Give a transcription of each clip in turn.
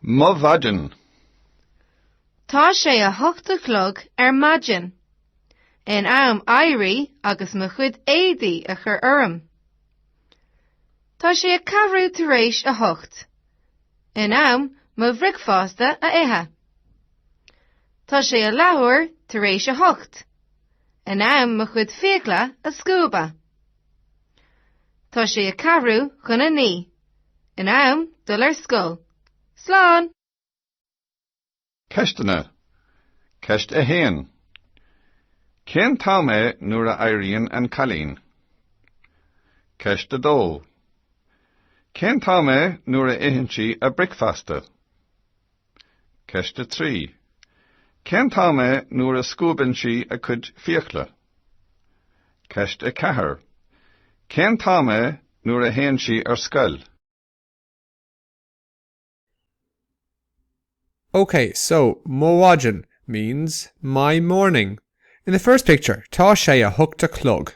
Mo mhaidin. Tá sé a hocht a chlog ar maidin. In am éirí agus mo chuid éadaí a chur orm. Tá sé a ceathrú tar éis a hocht. In am mo bhricfeasta a ithe. Tá sé a leathuair tar éis a hocht. In am mo chuid fiacla a scuabadh. Tá sé a ceathrú chun a naoi. In am dul ar scoil. Slán! Ceisteanna. Ceist a haon. Cén t-am é nuair a éiríonn an cailín? Ceist a dó. Cén t-am é nuair a itheann sí a bricfeasta? Ceist a 3. Cén t-am é nuair a scuabann sí a cuid fiacla? Ceist a 4. Cén t-am é nuair a théann sí ar scoil? Okay, so mo mhaidin means my morning. In the first picture, tá sé a hocht a chlog.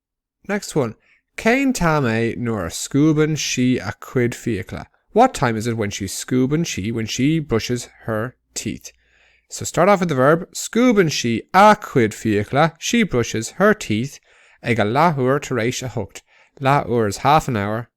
Next one, Cén t-am é nuair a scuabann sí a cuid fiacla? What time is it when she scuabann she when she brushes her teeth? So start off with the verb scuabann sí a cuid fiacla she brushes her teeth ag a leathuair tar éis a hocht, leathuair is half an hour,